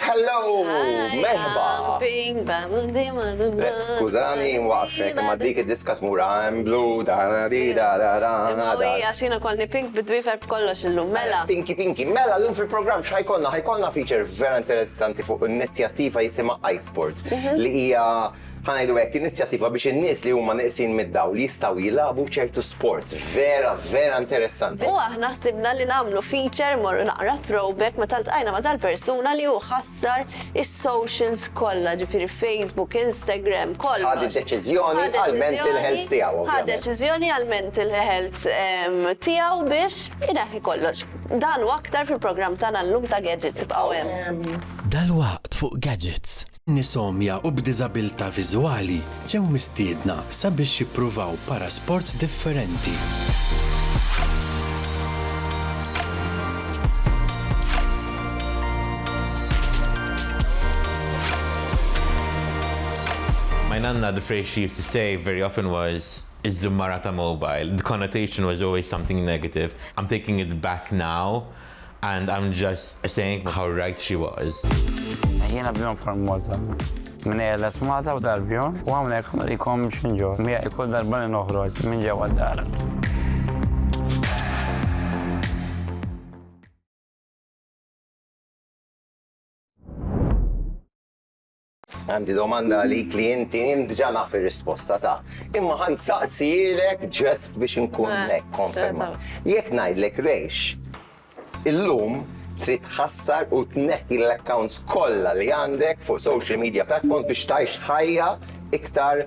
Hello! Merħba! Skużani, nwaqfek, imma dik id-diska tmur I'm blue, da da di da da da da. Imma għax jiena kolni pink bid-dwifer b'kollox illum, mela. Pinki pinki, mela llum fil-programm x'ħajkollna? Ħajkollna feature vera interessanti fuq inizjattiva jisimha iSport li hija ħa ngħidu hekk, inizjattiva biex in-nies li huma neqsin mid-dawl jistgħu jilagħbu ċertu sports vera, vera interessanti. U aħna ħsibna li nagħmlu feature, immorru naqra throwback, meta ltqajna ma' dal-persuna li hu ħassar is-socials kollha, ġifieri Facebook, Instagram, kollox. Ħa d-deċiżjoni għall-mental health tiegħu, ovvjament. Ħa deċiżjoni għall-mental health tiegħu biex ineħħi kollox. Dan u aktar fil-programm tagħna llum ta' Gadgets, ibqgħu hemm. Dalwaqt fuq Gadgets. Nies-għomja u b'diżabilità viżwali ġew mistiedna sabiex jippruvaw parasports differenti. My nanna the phrase she used to say very often was Iż-żummara ta' mobile. The connotation was always something negative. I'm taking it back now. And I'm just saying how right she was. Jiena bniedem formosa. Mnejja les Malta u tal-Bjorn u hawnhekk ħanurikom x'in ġorr miegħi kull darba li noħroġ minn ġewwa d-dar. Għandi domanda għalik li inti jien diġà naf ir-risposta ta' imma ħan saqsielek ġest biex inkun eh, hekk konferma. Jekk ngħidlek rejx, illum trid tħassar u tneħħi l-accounts kollha li għandek fuq social media platforms biex tgħix ħajja iktar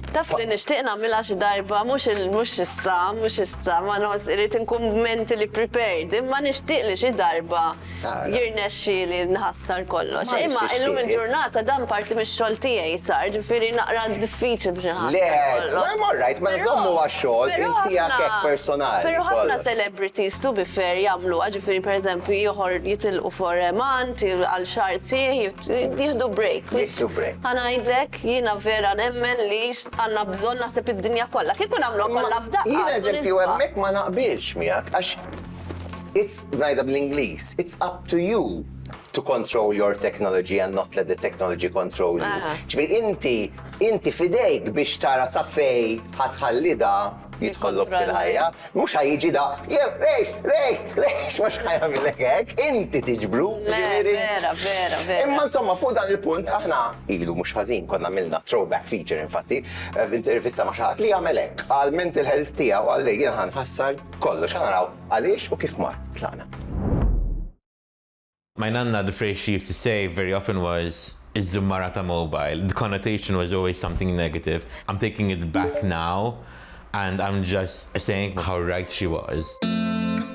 Taf li nixtieq nagħmilha xi darba mhux mhux issa, mhux issa, ma nos irid inkun mentally prepared, imma nixtieq li xi darba jirnexxieli nħassar kollox. Imma illum il-ġurnata dan parti mix-xogħol tiegħi sar, ġifieri naqra diffiċli biex inħassar kollox. Le, all right, ma nżommu għax-xogħol inti għad hekk personali. Però ħafna celebrities to be fair jagħmluha, ġifieri pereżempju joħor jitilqu for a month, għal xahar sieħ, jieħdu break. Jieħdu break. Ħa ngħidlek. hekk. Jiena vera nemmen li għandna bżonn naħseb id-dinja kollha. Kieku nagħmluha kollha f'daqqa. Jien eżempju hemmhekk ma naqbilx miegħek għax it's ngħidha bl-Ingliż, it's up to you to control your technology and not let the technology control you. Ġifieri inti inti f'idejk biex tara sa fejn ħa tħallidha. jidħollok fil-ħajja, mhux ħa jiġi da, jew rejx, rejx, rejx, mhux ħa jagħmilek hekk, inti tiġbru. Vera, vera, vera. Imma insomma fuq dan il-punt aħna ilu mhux ħażin konna milna throwback feature infatti eh, f'intervista ma' xaħat li jagħmel hekk għal mental health tiegħu għal li jien ħassar kollox ħanaraw għaliex u kif mar tlaqna. My nanna, the phrase she used to say very often was, Iż-żummara ta' mobile. The connotation was always something negative. I'm taking it back now and I'm just saying how right she was.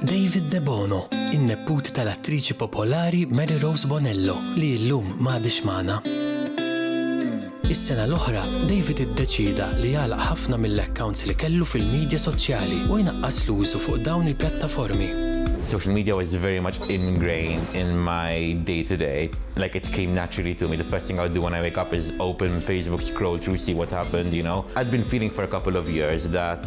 David Debono, in-nepput tal-attriċi popolari Mary Rose Bonello, li illum m'għadhiex magħna. Is-sena l-oħra, David iddeċieda li jagħlaq ħafna mill-accounts li kellu fil-midja soċjali u jnaqqas l-użu fuq dawn il-pjattaformi. Social media was very much ingrained in my day to day, like it came naturally to me. The first thing I would do when I wake up is open Facebook, scroll through, see what happened, you know. I'd been feeling for a couple of years that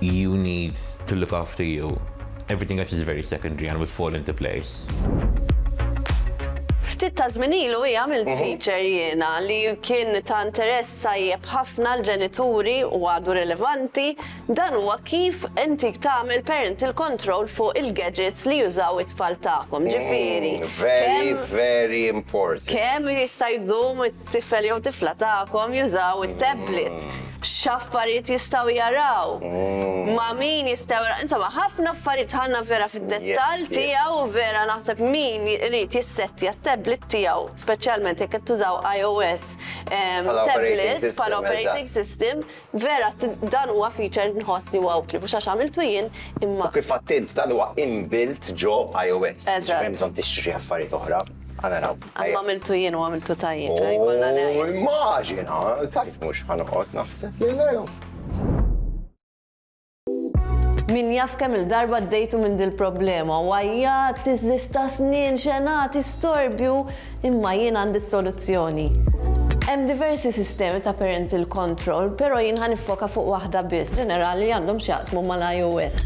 You need to look after you. Everything else is very secondary and will fall into place. Ftit ta' żmien ilu hija għamilt mhm. feature jiena li kien ta' interess tajjeb ħafna l-ġenituri u għadu rilevanti dan huwa kif inti tagħmel parental control fuq il-gadgets li jużaw it-tfal tagħkom. Mm, ġifieri. Very, very important. Kemm jista' jdum Tifel jew tifla tagħkom jużaw it-tablet. X'affarijiet jistgħu jaraw? Ma' min jistgħu jaraw? Insomma, ħafna affarijiet ħanna vera fid-dettall tiegħu vera naħseb min irid jissettja t-tablet tiegħu, speċjalment jekk qed tużaw iOS tablet bħala operating system, Vera, dan huwa feature nħoss li huwa utli, mhux għax għamiltu jien, imma. U kif għedt int, dan huwa inbuilt ġo iOS. Eżatt. Ġifieri hemm bżonn tixtri xi affarijiet oħra. Ħa naraw. Imma għamiltu jien u għamiltu tajjeb, ejja jkollna ngħid. U immaġina, tajt mhux ħa noqgħod naħseb li le. Min jaf kemm il-darba ddejtu minn dil-problema, wajjat, tiżdista snien, xenat, istorbju, imma jien għandi s-soluzzjoni. Hemm diversi sistemi ta' parental control, però jien ħa niffoka fuq waħda biss, ġenerali li għandhom x'jaqsmu mal-iOS.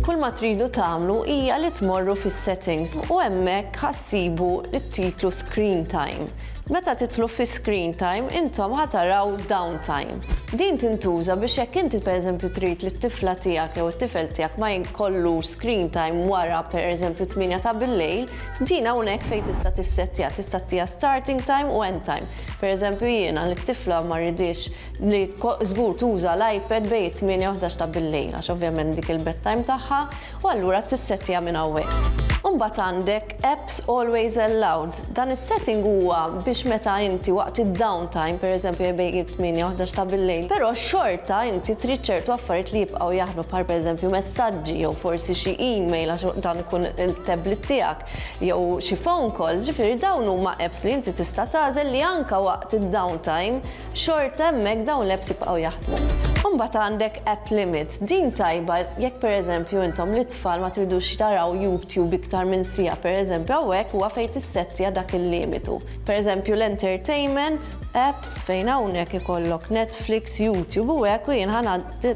Kull ma tridu tagħmlu hija li tmorru fis-settings u hemmhekk ħa ssibu t-titlu Screen Time. Meta tidħlu fi screen time intom ħa taraw down time. Din tintuża biex jekk inti pereżempju trid li t-tifla tiegħek jew it-tifel tiegħek ma jkollux screen time wara pereżempju t-tmienja ta' billejl, din hawnhekk fejn tista' tissettja, tista' ttiha starting time u end time. Pereżempju jiena li t-tifla ma rridhiex li żgur tuża l-iPad bejn it-tmienja u ħdax ta' billejl għax ovvjament dik il-bedtime tagħha, u allura tissettja minn hawnhekk. Imbagħad għandek Apps Always Allowed. Dan is-setting huwa biex meta inti waqt id-downtime, pereżempju bejn it-tmienja u ħdax ta' bil-lejl, però xorta inti trid ċertu affarijiet li jibqgħu jaħdmu bħal pereżempju messaġġi jew forsi xi email għax dan ikun il-tablet tiegħek jew xi phone calls, ġifieri dawn huma apps li inti tista' tagħżel li anke waqt id-downtime, xorta hemmhekk dawn l-apps jibqgħu jaħdmu. Imbagħad għandek app limits, din tajba jekk pereżempju intom lit-tfal ma tridux jaraw YouTube iktar minn siegħa pereżempju hawnhekk huwa fejn tissettja dak il-limitu. Pereżempju l-entertainment apps fejn hawnhekk ikollok Netflix, YouTube u hekk u jien ħa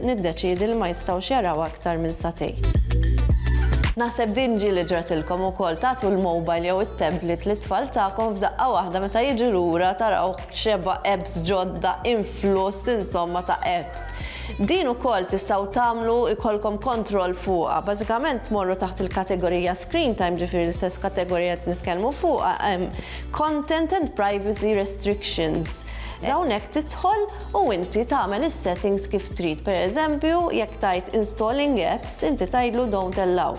niddeċiedi li ma jistgħux jaraw aktar minn sagħtejn. Naħseb din ġieli ġratilkom ukoll tagħtu l-mobile jew it-tablet lit-tfal tagħkom f'daqqa waħda meta jiġu lura taraw xebgħa apps ġodda, influss insomma ta' apps. Din ukoll tistgħu tagħmlu jkollkom kontroll fuqha. Bażikament tmorru taħt il-kategorija Screen Time, ġifieri l-istess kategorija li qed nitkellmu fuqha, hemm Content and Privacy Restrictions. Hawnhekk tidħol u inti tagħmel is-settings kif trid. Pereżempju, jekk tgħid Installing Apps, inti tgħidlu Don't Allow.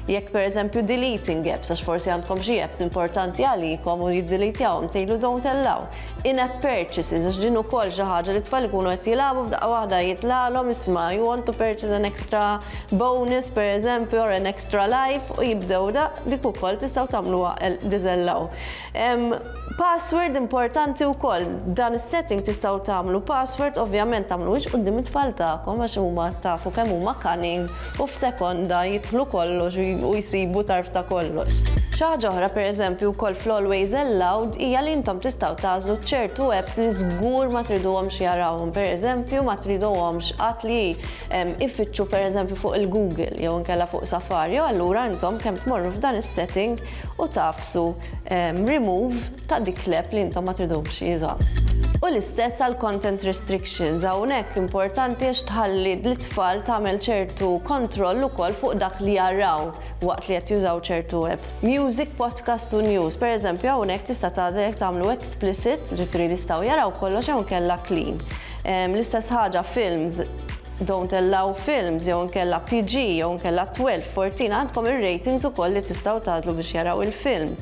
Jekk pereżempju deleting apps għax forsi għandkom xi apps importanti għalikom u jiddelitjahom tgħidlu don't allow. In-app purchases għax din ukoll xi ħaġa li t-tfal ikunu qed jilagħbu f'daqqa waħda jitlagħlhom isma' you want to purchase an extra bonus pereżempju or an extra life u jibdew daqq dik ukoll tistgħu tagħmluha disallow. Hemm password importanti wkoll. Dan is-setting tistgħu tagħmlu password, ovvjament tagħmluhiex quddiem it-tfal tagħkom għax huma tafu kemm huma cunning u f'sekonda jidħlu kollox u jsibu tarf ta' kollox. Xi ħaġa oħra pereżempju wkoll fl-always allowed hija li intom tistgħu tagħżlu ċertu apps li żgur ma triduhomx jarawhom. Pereżempju ma triduhomx qatt li jfittxu pereżempju fuq il-Google jew inkella fuq Safari u allura intom kemm tmorru f'dan is-setting u tagħfsu remove ta' dik l-app li intom ma tridux jużaw. U l-istess għal content restrictions, hawnhekk importanti għax tħalli lit-tfal tagħmel ċertu kontroll ukoll fuq dak li jaraw waqt li qed jużaw ċertu apps. Music, podcast u news, pereżempju hawnhekk tista' tagħżel jekk tagħmlu explicit, ġifieri li jistgħu jaraw kollox jew inkella clean. L-istess ħaġa films, Don't Allow Films jew inkella PG jew inkella 12, 14 għandkom ir-ratings ukoll li tistgħu tagħżlu biex jaraw il-film.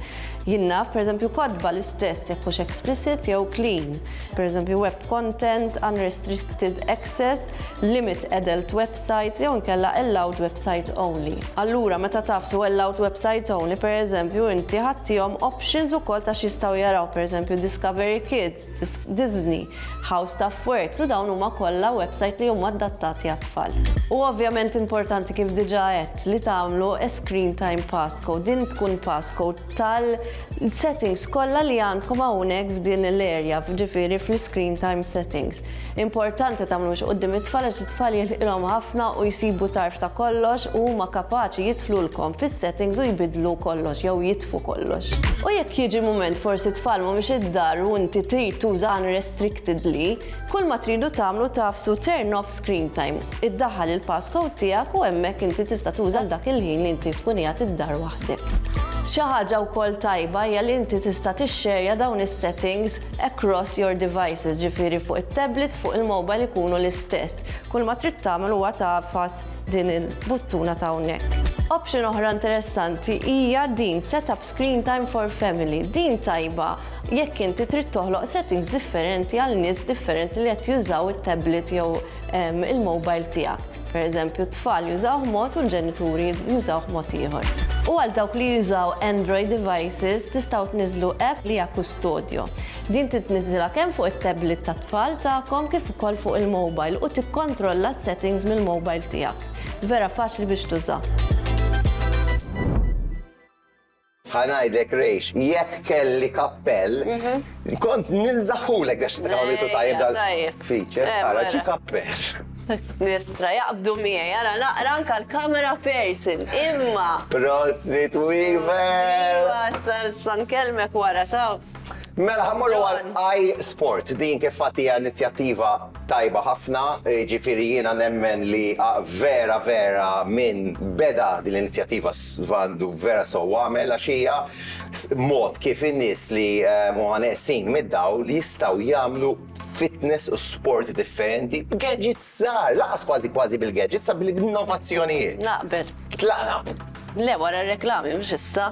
Jien naf, pereżempju, kotba l-istess jekk hux explicit jew clean. Pereżempju, web content, unrestricted access, limit adult websites jew inkella allowed websites only. Allura, meta tafsu allowed websites only, pereżempju, inti ħadtihom options ukoll ta' x'jistgħu jaraw, pereżempju, Discovery Kids, Disney, How Stuff Works u dawn huma kollha website li huma adattati għat-tfal. Huwa ovvjament importanti kif diġà għedt li tagħmlu a screen time passcode. Din tkun passcode tal-settings kollha li għandkom hawnhekk f'din l-area, ġifieri fl-screen time settings. Importanti tagħmlux quddiem it-tfal għax it-tfal jilħqilhom ħafna u jsibu tarf ta' kollox u huma kapaċi jidħlulkom fis-settings u jbiddlu kollox jew jitfu kollox. U jekk jiġi mument forsi t-tfal mhumiex id-dar u inti trid tuża unrestrictedly, kull ma tridu tagħmlu tagħfsu turn off screen time, iddaħħal il-passcode tiegħek u hemmhekk inti tista' tuża għal dak il-ħin li inti tkun qiegħed id-dar waħdek. Xi ħaġa wkoll tajba hija li inti tista' tixxerja dawn is-settings Across your devices, ġifieri fuq it-tablet, fuq il-mobile ikunu l-istess. Kull ma trid tagħmel huwa tagħfas din il-buttuna ta' hawnhekk. Option oħra interessanti hija din set up screen time for family. Din tajba jekk inti trid toħloq settings differenti għal nies differenti li qed jużaw it-tablet jew il-mobile tiegħek. Per eżempju, t-tfal jużawh mod u l-ġenituri jużawh mod ieħor. U għal dawk li jużaw Android devices, tistgħu tniżżlu app li hija Custodio. Din titniżżilha kemm fuq it-tablet tat-tfal tagħkom kif ukoll fuq il-mobile u tikkontrolla s-settings mill-mobile tiegħek. Vera faċli biex tuża. Ħa ngħidlek Rejx, jekk kelli kappell, kont ninżagħhulek għax għamilu tajjeb dal-feature, ara xi kappell. Nistra, jaqbdu miegħi, ara naqra anka l-camera person, imma. Prosit Weaver! Iva, sa nkellmek wara ta' Mela ħammorru għal I Sport, din kif fatt hija inizjattiva tajba ħafna, ġifieri jiena nemmen li vera vera min beda din l-inizjattiva għandu vera sew għamel għax hija mod kif in-nies li huma neqsin mid-dawl jistgħu jagħmlu fitness u sport differenti b'gadgets żgħar, lanqas kważi kważi bil-gadgets, sa bil-innovazzjonijiet. Naqbel. Tlaqna. Le wara r-reklami mhux issa.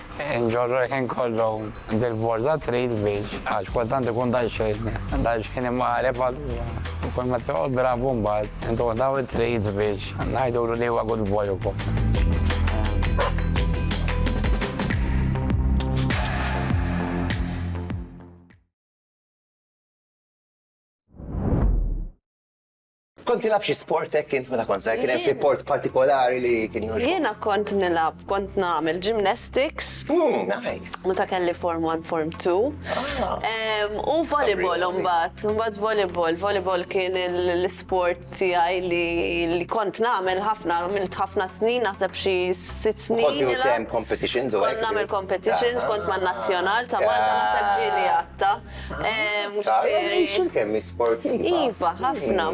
Inġorru l-ħin kollu bil-borża trid biex għax kultant ikun daqsxejn daqsxejn imqareb allura kull ma toqgħod drabu mbagħad intuh daw it-treats biex ngħidulu li huwa good boy ukoll. Kont tilab xi sport hekk int meta kont żgħir? Kien hemm xi sport partikolari li kien jogħġbok? Jiena kont nilab, kont nagħmel gymnastics. Hmm, nice. Meta kelli form 1, form 2. Ah. U volleyball mbagħad, mbagħad volleyball. Volleyball kien l-isport tiegħi li kont nagħmel ħafna, għamilt ħafna snin, naħseb xi sitt snin. Kont jusem competitions u Kont nagħmel competitions, kont man-nazzjonal ta' Malta naħseb ġieli għatta. Xil kemm sportiva. Iva, ħafna.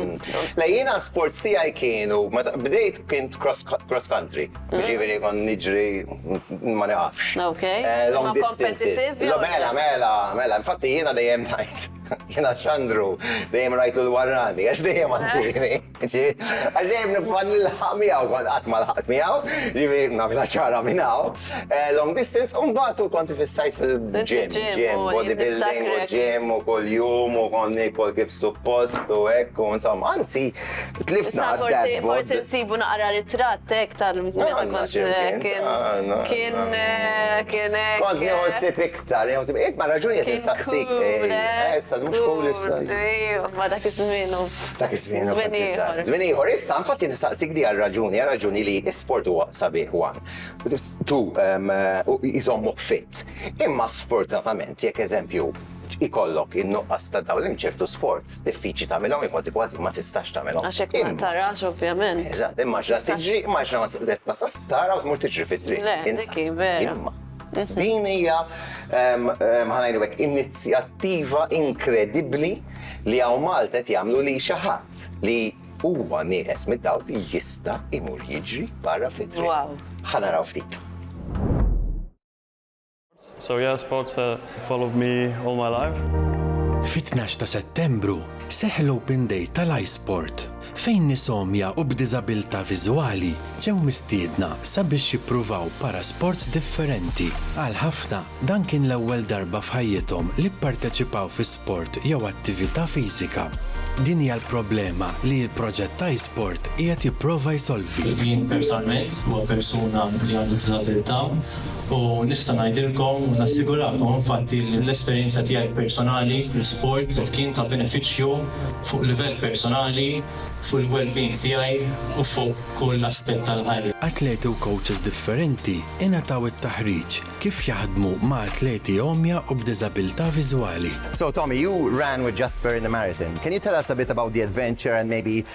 Lejjina sports tiegħi kienu, bdejt kien cross country, ġiviri kon niġri ma naqafx. Ok. Long distances. Mela, mela, mela, infatti jiena dejjem najt. Jiena ċandru, dejjem rajtu l-warrani, għax dejjem għantini. Ġifieri, għax dejjem nipprova nilħaq miegħu, kont qatt ma lħaqt miegħu, ġifieri nagħmilha ċara minn hawn. Long distance u mbagħad u kont ifissajt fil-gym, gym, body building u gym u kuljum u kont niekol kif suppost u hekk u insomma, anzi tlift naqra d-dad bod. Issa forsi forsi nsibu naqra ritratt hekk tal-meta kont kien kien kien hekk. Kont nieħu ħsieb Tara, jew tibqiet ma' raġuni qed insaqsik. Issa mhux cool issa. Ma dak iż-żmienu. Dak iż-żmienu. Żmien ieħor. Żmien ieħor. Issa infatti nistaqsik di għal raġuni, għal raġuni li sport huwa sabiħ wan. Tu jżommok fit. Imma sfortunatament jekk eżempju ikollok in-nuqqas ta' dawl hemm ċertu sports diffiċli tagħmilhom jew kważi kważi ma tistax tagħmilhom. Għax hekk ma tarax ovvjament. Eżatt, immaġina tiġri, immaġina ma tarax tmur tiġri fit-triq. Le, dik hi vera. Din hija ħanajlu hekk inizjattiva inkredibbli li hawn Malta qed jagħmlu li xi ħadd li huwa nieqes mid-dawl jista' imur jiġri barra fit-triq. Ħa naraw ftit. So yeah, sports uh, followed me all my life. Fit-12 ta' Settembru seħ l-Open Day tal-iSport fejn nies għomja u b'diżabilità viżwali ġew mistiedna sabiex jippruvaw parasports differenti. Għal ħafna, dan kien l-ewwel darba f'ħajjithom li pparteċipaw fi sport jew attività fiżika. Din hija l-problema li l-proġett iSport qiegħed jipprova jsolvi. Jien personalment, bħala persuna li għandu diżabilità, u nista' ngħidilkom u nassigurakom infatti li l-esperjenza tiegħi personali fl-isport kien ta' benefiċċju fuq livell personali, fuq il-well-being tiegħi u fuq kull aspett tal-ħajja. Atleti u kowċis differenti ingħataw it-taħriġ kif jaħdmu ma' atleti għomja u b'diżabilità viżwali. So Tommy, you ran with Jasper in the marathon. Can you tell us a bit about the adventure and maybe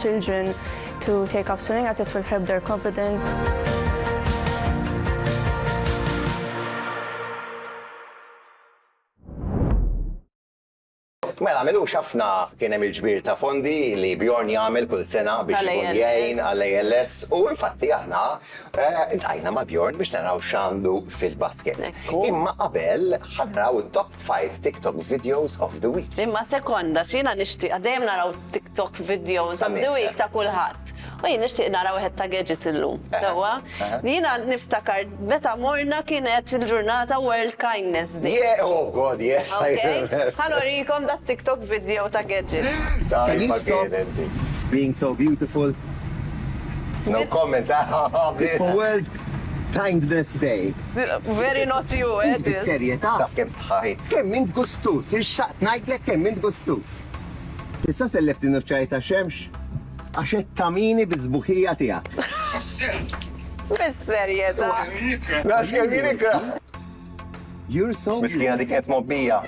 children to take up swimming as it will help their confidence. Mela, għamilux ħafna kien hemm il-ġbir ta' fondi li Bjorn jagħmel kull sena biex jgħin għall-ALS u infatti aħna eh, intqajna ma' Bjorn biex naraw x'għandu fil-basket. Imma qabel ħadraw it-top Five TikTok videos of the week. Imma sekonda, x'jiena nixtieqha, dejjem naraw TikTok videos of the week ta' kulħadd. U jien nixtieq nara wieħed ta' gadgets illum, sewwa. Jiena niftakar meta morna kienet il-ġurnata World Kindness Day. Yeah, oh God, yes, I remember. Ħa nurikom dat-TikTok video ta' gadget. Can you stop being so beautiful? No comment, haha, bliss. Kindness Day. Very not you, eh? Bis-serjetà. Taf kemm stħajt. Kemm int gustuż, irxtaqt ngħidlek kemm int gustuż. Tista' sellef din uċċaj ta' xemx? Għax qed tamini biż-sbuħija tiegħek. Bis-serjetà. Naqs kemm jien ikra. You're so Miskina dik qed mobbija.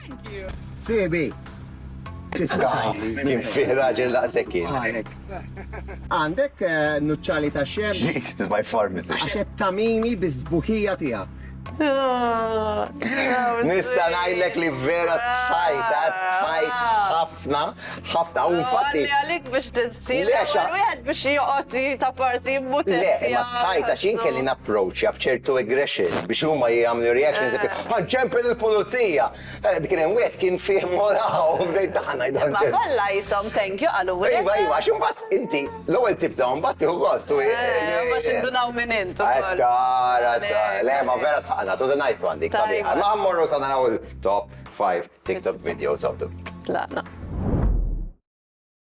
Sibi! Kien fih raġel daqshekk kien. Għandek eh, nuċċali ta' xem? This is my pharmacist. Għaxet tamini bizbuħija tiegħek. Nista najlek li vera sħajta, sħajt ħafna, ħafna, u infatti. Għalik biex Lexa. Wieħed biex joqgħod ta' parsi mutenti. Le, ma stajta xin kelli napproċċja b'ċertu aggression biex huma jagħmlu reactions eh. ħanġemp il-pulizija. Eh, dik kien wieħed kien fih moraw bdejt daħna jdan. Ma kollha jisom thank you qalu. Iva, iva, għax imbagħad inti l-ewwel tibża mbagħad tieħu gost. Eh, ma xindunaw minn int. Tara, tara. Le, ma vera tħaqna, tuża nice one dik. Ma mmorru sa naraw il-top 5 TikTok videos of the week. La, la.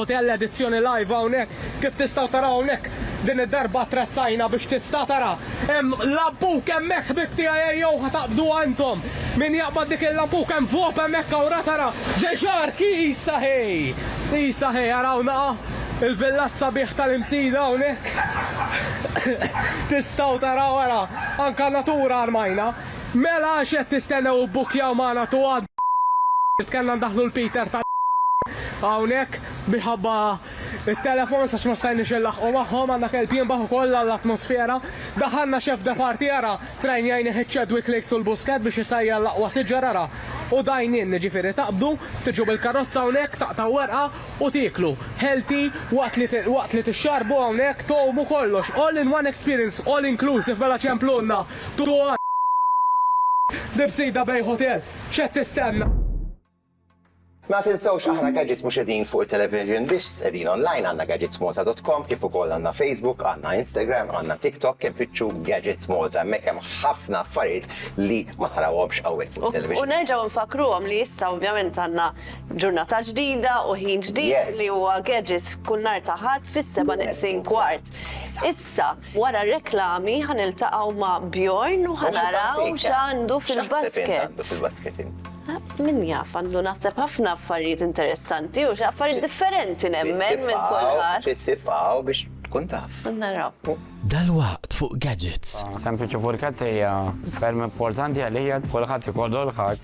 Hotel Edizzjoni Live hawnhekk. Kif tistgħu taraw hawnhekk din id-darba attrezzajna biex tista' tara. Hemm lampuk hemmhekk ħbieb tiegħi ejjew ħa taqbduha intom. Min jaqbad dik il-lampuk hemm vop hemmhekk hawn ra tara Ġeġark Isa ħej! Isa ħej ara hawn naqa' il-villat sabiħ tal-Imsida hawnhekk. Tistgħu taraw ara anka natura armajna. Mela x'qed tistennew ibbukkjaw magħna tu għad li kellna ndaħħlu l-Peter tal hawnhekk minħabba t-telefons għax ma stajniex inlaħħqu magħhom, għandna kelb jinbaħ ukoll għall-atmosfera. Daħħalna Chef de Partie ara trajnjajnih iċ-Chadwick Lakes u l-Busquet biex isajjar l-aqwa siġar ara u dine in jiġifieri taqbdu, tiġu bil-karozza hawnhekk taqtgħu werqa u tieklu healthy waqt li waqt li tixxarrbu hawnhekk tgħumu kollox all in one experience all inclusive mela ċemplulna. Dua Libsida bejn hotel, x'qed tistenna? Ma tinsewx aħna Gadgets mhux qegħdin fuq it-television biss, qegħdin online għandna gadgetsmalta.com kif ukoll għandna Facebook, għandna Instagram, għandna TikTok, imfittxu Gadgets Malta hemmhekk hemm ħafna affarijiet li ma tarawhomx hawnhekk fuq it-television. U nerġgħu nfakkruhom li issa ovvjament għandna ġurnata ġdida u ħin ġdid li huwa Gadgets kull nhar ta' Ħadd fis-seba' neqsin kwart. Issa, Wara r-reklami ħa niltaqgħu ma' Bjorn u ħa naraw x'għandu fil-basket. Min jaf, għandu naħseb ħafna affarijiet interessanti u xi affarijiet differenti nemmen minn kulħadd. Trid tibqgħu biex tkun taf. Naraw. Dalwaqt fuq Gadgets. Sempliċi Furkett hija ferm importanti għalija, kulħadd ikollu l-ħaġ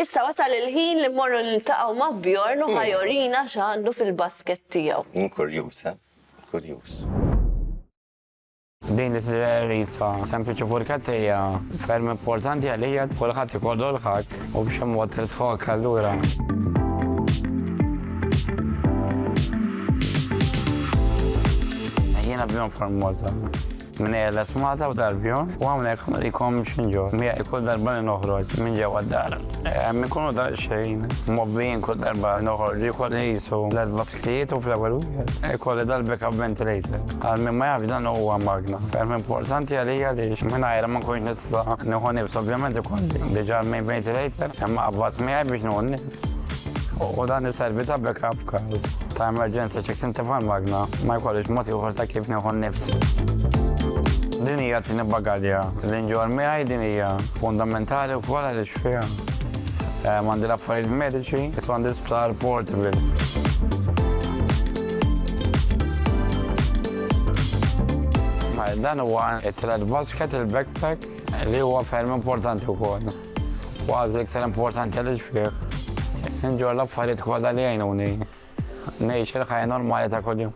Issa wasal il-ħin li mmorru niltaqgħu ma' Bjorn u ħajorina x'għandu fil-basket tiegħu. Jien kurjuż, eh? Kurjuż. Din li tidher qisha sempliċi furketta hija ferm importanti għalija kulħadd ikollu l-ħakk u b'xi mod trid tħokkha allura. Jiena bjorn formosa. Minnejja l-esmata f'darbjon u hawnhekk ma nrikomx minn ġo miegħi kull darba li noħroġ minn ġewwa d-dar. Hemm inkunu daqsxejn mgħobbijin kull darba li noħorġ ikolli qisu tliet basktijiet u fl-ewwel wieħed ikolli dal-backup ventilator. Għal min ma jafx dan huwa magna ferm importanti għalija għaliex mingħajrha ma nkunx nista' nieħu nifs ovvjament ikolli diġà l-main ventilator imqabbad miegħi biex nieħu n-nifs. u dan iservi ta' backup f'każ ta' emerġenza ċek sinti f'għal magna ma jkollix mod ieħor ta' kif nieħu n-nifs. Din hija t-tieni bagalja li nġorr miegħi din hija fundamentali wkoll għaliex fiha hemm għandi l-affarijiet mediċi kif għandi sptar portable. Dan huwa t-tielet basket, il-backpack, li huwa ferm importanti wkoll. Kważi l-iktar importanti li xfih. Inġor l-affarijiet kollha li jgħinuni ngħix il-ħajja normali ta' kuljum.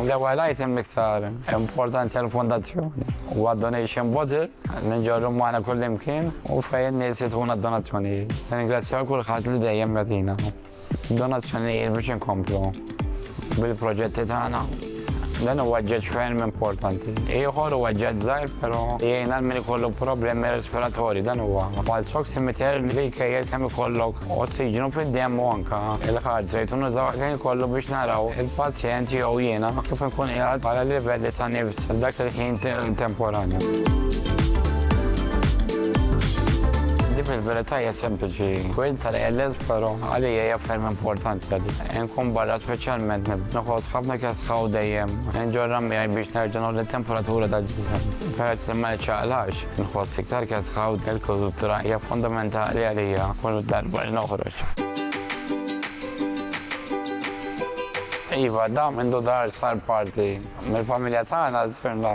L-ewwel item l-iktar importanti għall-fondazzjoni huwa donation bottle li nġorru magħna kullimkien u fejn in-nies jituna d-donazzjonijiet. Nirringrazzja lil kulħadd li dejjem jagħtina. Donazzjonijiet biex inkomplu bil-proġetti tagħna. Dan huwa ġeġ ferm importanti. Ieħor huwa ġeġ żgħir, però jgħin għal min ikollu problemi respiratorji. Dan huwa pulse oximeter li jkejjel kemm ikollok ossiġnu fid-demm u anke il-heart rate u nużaw kemm ikollu biex naraw il-pazjent jew jiena kif inkun qiegħed bħala livelli ta' nifs dak il-ħin temporanju. Din fil-verità hija sempliċi. Kwint tal-ALS Pero għalija hija ferm importanti għadi. Nkun barra speċjalment noħod ħafna kesħaw dejjem. Nġorra miegħi biex nerġa' noħod it-temperatura tal-ġisem. Peress li ma ċaqlax, nħoss iktar kesħaw il-kultura hija fundamentali għalija kull darba li noħroġ. Iva, dam indu dar sar parti mill-familja tagħna żfirna.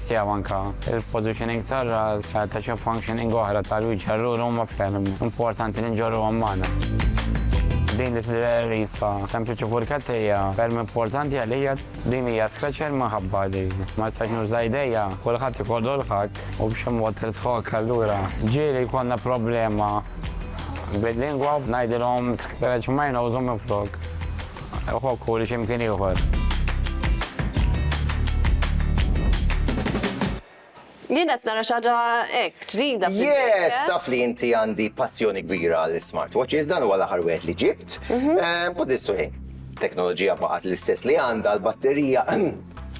tiegħu anke l-positioning tar-ras ta' xi functioning oħra tal-wiċċ allura huma ferm importanti li nġorruhom magħna. Din l-islidererisa sempliċi furketta hija ferm importanti għalija, din hija scratcher minħabba li ma nistax nuża idejja, kulħadd ikollu l-ħakk u b'xi mod trid tħokk allura ġieli jkollna problema bil-lingwa u ngħidilhom scratch my nose u minflok. Iħobbu li x'imkien ieħor. Jien qed nara xi ħaġa hekk ġdida. Yes, taf li inti għandi passjoni kbira għal smartwatches dan huwa l-aħħar wieħed li ġibt. Mhm. Eh, put this way, teknoloġija baqgħet l-istess li għandha l-batterija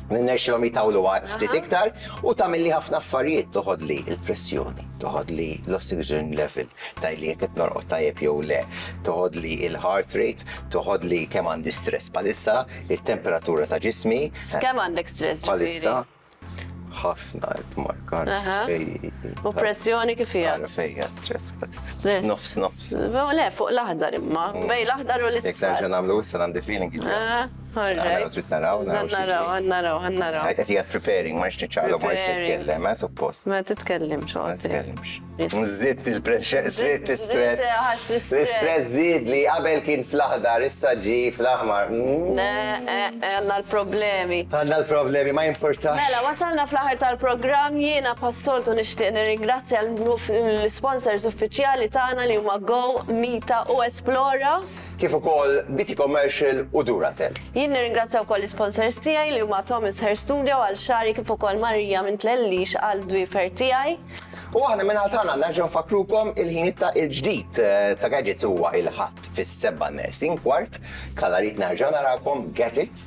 Irnexxilhom jitawlu għal ftit iktar u tagħmilli ħafna affarijiet, toħodli l-pressjoni, toħodli l-oxygen level, tgħidli jekk qed norqod tajjeb jew le, toħodli l-heart rate, toħodli kemm għandi stress bħalissa, it-temperatura ta' ġismi. Kemm għandek stress bħalissa? ħafna qed markar. U pressjoni kif hija? Fejja stress. Stress. Nofs nofs. Le fuq l-aħdar imma, bej l-aħdar u l-isfel. Jekk nerġa' nagħmlu issa għandi feeling. All right. Għanna trid naraw, naraw. Naraw, naraw, naraw. Għet jgħat preparing, ma nixtieq ċaqlok, ma nixtieq tkellem, għet suppost. Ma titkellimx, ma titkellimx. Zitt il-pressure, zitt il-stress. L-stress zid li qabel kien fl-aħdar, issa ġi fl-aħmar. Mm. Għanna l-problemi. Għanna l-problemi, ma jimportax. Mela, wasalna fl-aħar tal-program, jiena passoltu nixtieq nirringrazzja l-sponsors uffiċjali tagħna li huma Go, Mita u Esplora. kif ukoll BT Commercial u Duracell. Jien nirringrazzja wkoll l-isponsors tiegħi li huma Thomas Hair Studio għal xagħri kif ukoll Maria minn Tlellix għal dwiefer tiegħi. U aħna min-naħa tagħna nerġgħu nfakkrukom il-ħin ta' il-ġdid ta' Gadgets huwa il-Ħadd fis-sebgħa neqsin kwart. Kalla rrid nerġa' narakom Gadgets.